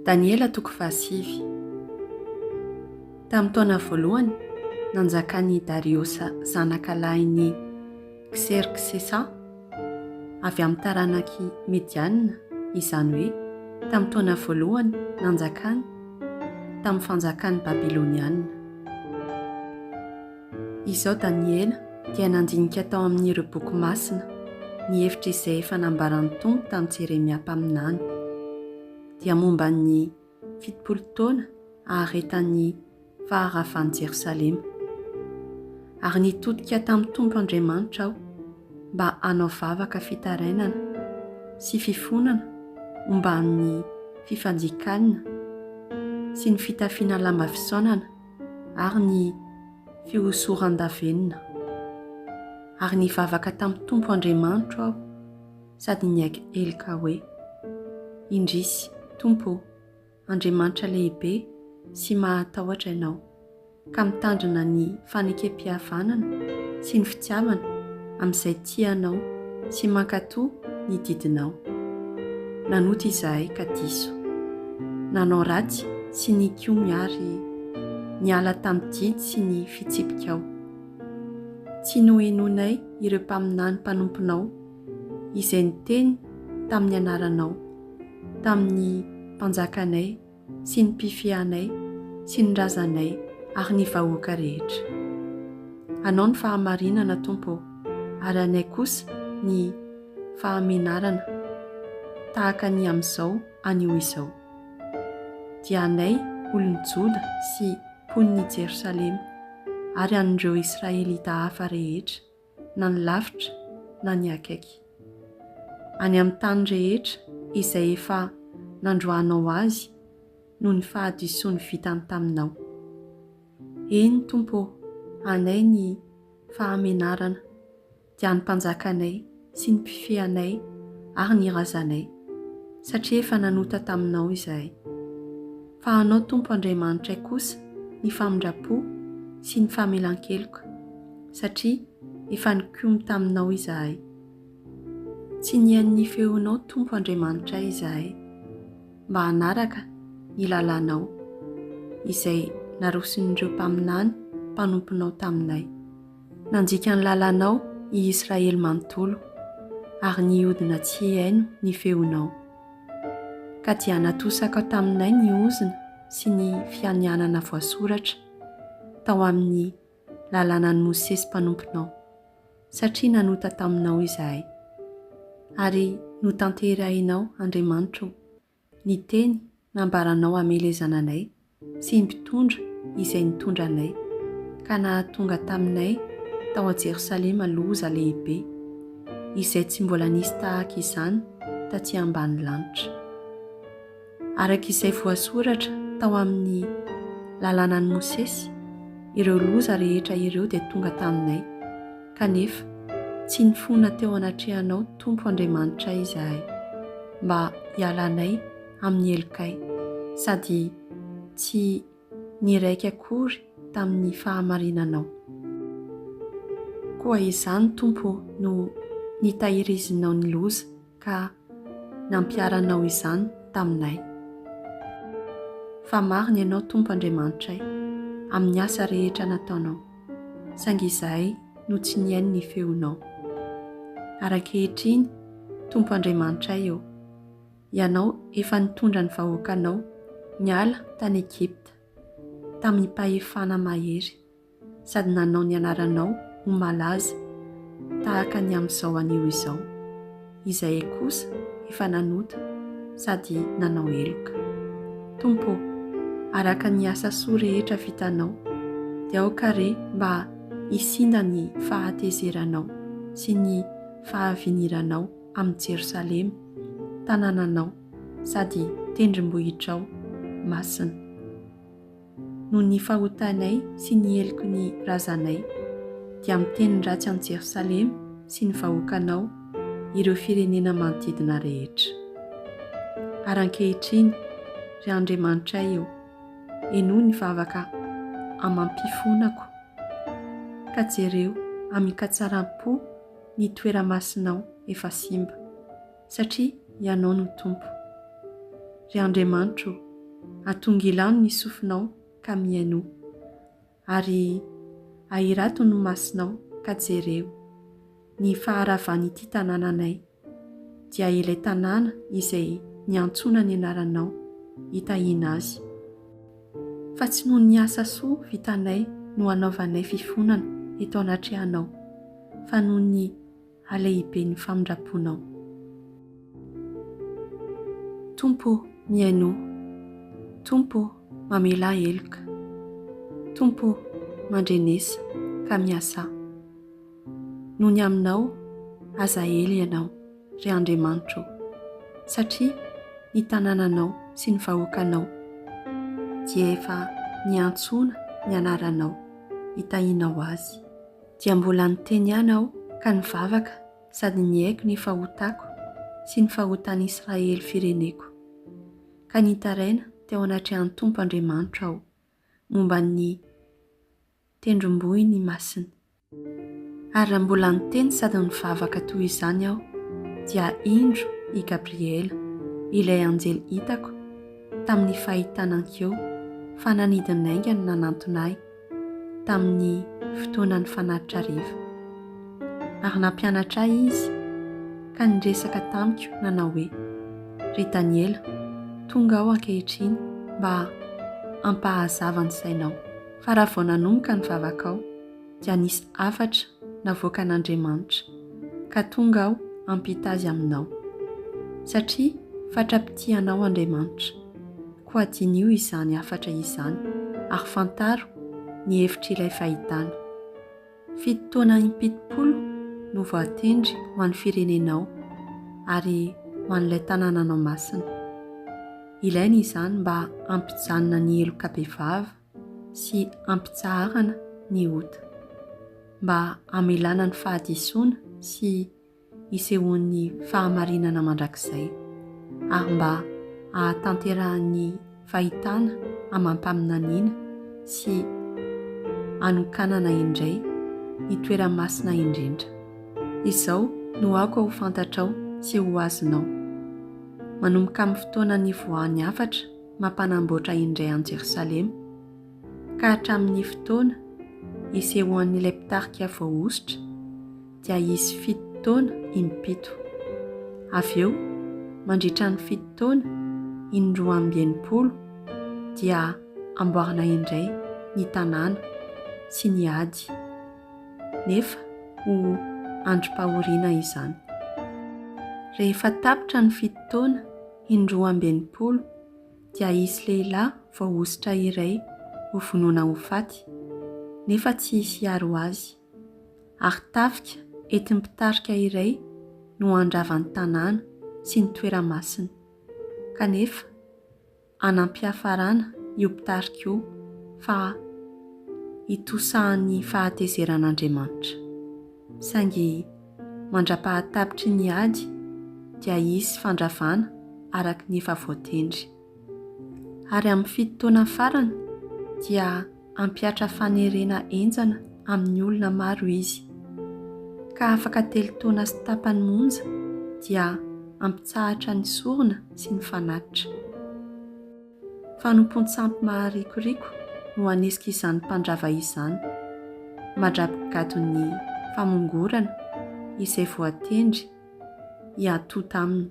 Daniela toko fahasivy Tamin'ny taona voalohany nanjakan'i Dariosa zanaka lahin'i Kserksesa, avy amin'ny taranak'i Midiana, izany hoe tamin'ny taona voalohany nanjakany tamin'ny fanjakan'ny Babylonianina. Izao Daniela dia nandinika tao amin' ireo boky masina ny hevitr' izay efa nambaran' ny Tompo tamin'i Jeremia mpaminany, dia momba ny fitopolo taona aharetan' ny faharavan' i Jerosalema. Ary nitodika tamin'ny Tompo Andriamanitra aho mba hanao vavaka fitarainana sy fifonana omban' ny fifanjikalina sy ny fitafiana lamba fisaonana, ary ny fihosoran-davenona. Ary nivavaka tamin'ny Tompo Andriamanitro aho sady niaiky heloka hoe, Indrisy, Tompo ô, Andriamanitra lehibe sy mahatahotra Ianao, ka mitandrina ny fanekempihavanana sy ny fitiavana amin'izay tia anao sy mankatò ny didinao. Nanota izahay ka diso. Nanao ratsy sy nikomy ary niala tamin'ny didy sy ny fitsipikao. Tsy nohenoinay ireo mpaminany mpanomponao izay niteny tamin'ny anaranao tamin'ny mpanjakanay sy ny mpifiahanay sy ny razanay ary ny vahoaka rehetra. Anao ny fahamarinana, Tompo ô, ary anay kosa ny fahamenarana, tahaka ny amin'izao anio izao. Dia anay olon'i Joda sy mponin'i Jerosalema, ary an'ireo Israelita hafa rehetra, na ny lavitra na ny akaiky, any amin'ny tany rehetra izay efa nandroahanao azy noho ny fahadisoany vitany taminao. Eny, Tompo ô, anay ny fahamenarana, dia ny mpanjakanay sy ny mpifehy anay ary ny razanay, satria efa nanota taminao izahay. fa Anao Tompo Andriamanitray kosa ny famindram-po sy ny famelan-keloka, satria efa nikomy taminao izahay. Tsy nihaino ny feonao Tompo Andriamanitray izahay, mba hanaraka ny lalànao, izay naroson'ireo mpaminany mpanomponao taminay. Nanjika ny lalànao i Israely manontolo, ary nihodina tsy hihaino ny feonao. ka dia natosaka taminay ny ozona sy ny fianianana voasoratra tao amin'ny Lalànan'i Mosesy mpanomponao, satria nanota taminao izahay. Ary notanterahinao, Andriamanitro, ny teny nambaranao hamelezana anay, Tsy mpitondra izay nitondra anay, ka nahatonga taminay tao an-Jerosalema loza lehibe, izay tsy mbola nisy tahaka izany taty ambany lanitra. Araka izay voasoratra tao amin'ny Lalànan'i Mosesy, ireo loza rehetra ireo dia tonga taminay, kanefa tsy nifona teo anatrehanao Tompo Andriamanitray izahay, mba hialanay amin'ny helokay sady tsy niraika akory tamin'ny fahamarinanao. Koa izany, Tompo ô, no nitahirizinao ny loza ka nampiharanao izany taminay. Fa marina Ianao, Tompo Andriamanitray, amin'ny asa rehetra nataonao, saingy izahay no tsy nihaino ny feonao. Ary ankehitriny, Tompo Andriamanitray ô, Ianao efa nitondra ny vahoakanao niala tany Egypta tamim-pahefana mahery, sady nanao ny anaranao ho malaza tahaka ny amin'izao anio izao. Izahay kosa efa nanota sady nanao heloka. Tompo ô, araka ny asa soa rehetra vitanao, dia aoka re mba hisinda ny fahatezeranao sy ny fahaviniranao, amin'i Jerosalema, tanànanao sady tendrombohitrao masina. Noho ny fahotanay sy ny heloky ny razanay, dia miteny ratsy an'i Jerosalema sy ny vahoakanao ireo firenena manodidina rehetra. Ary ankehitriny, ry Andriamanitray ô, henoy ny vavaka amam-pifonako, ka jereo amin-katsaram-po, Ny toera-masinao efa simba, satria Ianao no Tompo. Ry Andriamanitro ô, atongilano ny sofinao ka mihaino, ary ahirato ny masinao ka jereo, ny faharavan'ity tanànanay, dia ilay tanàna izay niantsoana ny Anaranao, hitahiana azy. Fa tsy noho ny asa soa vitanay no anaovanay fifonana eto anatrehanao, fa noho ny halehiben'ny famindram-ponao. Tompo ô, mihaino aho. Tompo ô, mamelà heloka. Tompo ô, mandrenesa, ka miasà. no ny Aminao aza ela Ianao, ry Andriamanitro ô, satria ny tanànanao sy ny vahoakanao dia efa niantsoana ny anaranao hitahianao azy. Dia mbola niteny ihany aho ka nivavaka sady nihaiko ny fahotako sy ny fahotan'i Israely fireneko, ka nitaraina teo anatrehan'ny Tompo Andriamanitro aho momba ny tendrombohiny masina. Ary raha mbola niteny sady nivavaka toy izany aho, dia indro i Gabriela, ilay anjely hitako tamin'ny fahitana an-keo fa nanidy ny aingany nanantona ahy tamin'ny fotoanan'ny fanatitra hariva. Ary nampianatra ahy izy ka niresaka tamiko nanao hoe, Ry Daniela, tonga aho ankehitriny mba hampahazava ny sainao. Fa raha vao nanomboka ny vavakao, dia nisy hafatra navoakan'Andriamanitra, ka tonga aho hampita azy aminao. Satria fatra-pitia anao Andriamanitra. Koa diniho izany hafatra izany, ary fantaro ny hevitr'ilay fahitana. Fito taona im-pitopolo no voatendry ho an'ny firenenao, ary ho an'ilay tanànanao masina. Ilaina izany mba hampijanona ny heloka bevava. sy hampitsaharana ny ota, mba hamelana ny fahadisoana sy hisehoan'ny fahamarinana mandrakizay, ary mba hahatanterahan'ny fahitana amam-paminaniana sy hanokanana indray ny toerany masina indrindra. Izao no aoka ho fantatrao sy ho azonao, manomboka amin'ny fotoana nivoahan'ny hafatra, mampanamboatra indray an'i Jerosalema, ka hatramin'ny fotoana isehoan'ilay mpitarika voahosotra dia hisy fito taona im-pito. Avy eo, mandritra ny fito taona in-roa amby enimpolo, dia hamboarina indray ny tanàna sy ny ady, nefa ho androm-pahoriana izany. Rehefa tapitra ny fito taona In-roa amby enimpolo dia hisy lehilahy voahosotra iray ho vonoina ho faty, nefa tsy hisy hiaro azy. Ary tafika entin'ny mpitarika iray no handrava ny tanàna sy ny toerana masina. Kanefa, hanam-piafarana io mpitarika io fa hitosahan'ny fahatezeran'Andriamanitra. Saingy mandra-pahatapitry ny ady dia hisy fandravana araka ny efa voatendry. Ary amin'ny fito taona farany dia hampihatra fanerena henjana amin'ny olona maro izy. Ka afaka telo taona sy tapany monja dia hampitsahatra ny sorona sy ny fanatitra. Fanompoan-tsampy maharikoriko no hanesika izany mpandrava izany. Madrapy gadon'ny famongorana izay voatendry hiatonta aminy.